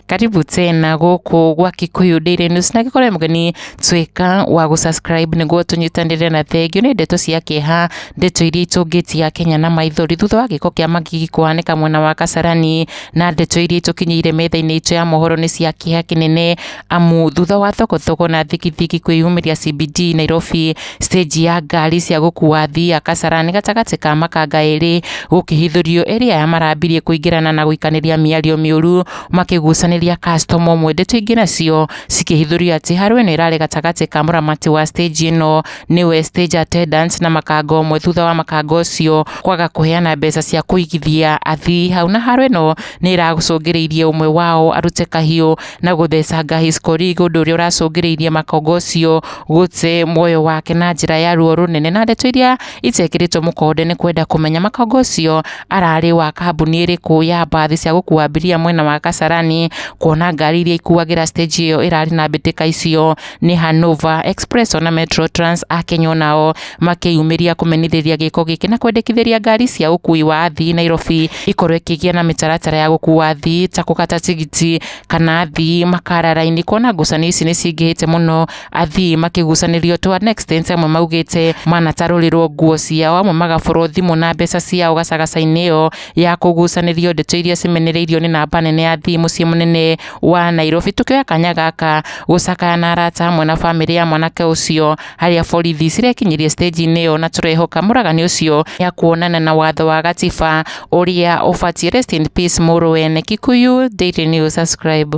karibu tena guku gwa Kikuyu Daily News na gikore mugeni twika wa gu subscribe niguo tunyitanire na thengio ni ndeto cia kieha ndeto iria itungitia Kenya na maithori thutha wa giko kia magigi kuhaneka mwena wa Kasarani na ndeto iria itukinyire metha-ini itu ya mohoro ni cia kieha kinene amu thutha wa thokothoko na thigithigi kwĩyumĩria CBD Nairobi, stage ya ngari cia gũkua athii ya Kasarani gatagatĩ ka makanga erĩ gũkĩhithũrio erĩ aya marambirie kũingĩrana na gũikanĩria mĩario mĩũru makĩgucanĩria customer ũmwe ndeto ingĩ nacio cikĩhithũrio atĩ harũ ĩno ĩrarĩ gatagatĩ ka mũramati wa stage ĩno nĩwe stage attendant na makanga ũmwe thutha wa makanga ũcio kwaga kũheana mbeca cia kũigithia athii hau na harũ ĩno nĩ ĩracũngĩrĩirie ũmwe wao arute kahiũ na gũthecanga Hiscorig, ũndũ ũrĩa ũracũngĩrĩirie makongo ũcio gũte muoyo wake na njĩra ya ruo rũnene, na ndeto iria itekĩrĩtwo mũkonde nĩ kwenda kũmenya makongo ũcio ararĩ wa kambuni ĩrĩkũ ya mbathi cia gũkua abiria mwena wa Kasarani, kuona ngari iria ikuagĩra stage ĩyo ĩrarĩ na mbĩtĩka icio nĩ Hanover Express ona Metro Trans a Kenya onao makĩyumĩria kũmenithĩria gĩko gĩkĩ na kwendekithĩria ngari cia ũkui wa athii Nairobi ikorwo ikĩgĩa na mĩtaratara ya gũkua athii ta kũgata tigiti kana athii makara raini kuona ngucanio ici nĩ cingĩhĩte mũno athii makĩgucanĩrio twa next dance amwe maugĩte manatarũrĩrwo nguo ciao amwe magaborwo thimũ na mbeca ciao gacagaca-inĩ ĩyo ya kũgucanĩrio ndeto iria cimenereirio nĩ namba nene ya athii mũciĩ mũnene wa Nairobi tũkĩoya kanya gaka gũcakaya na arata hamwe na bamĩrĩ ya mwanake ũcio harĩa borithi cirekinyirie stage-inĩ ĩyo na tũrehoka mũragani ũcio ya kuonana na watho wa gatiba ũrĩa ũbatiĩ rest in peace mũrũ wene Kikuyu Daily News subscribe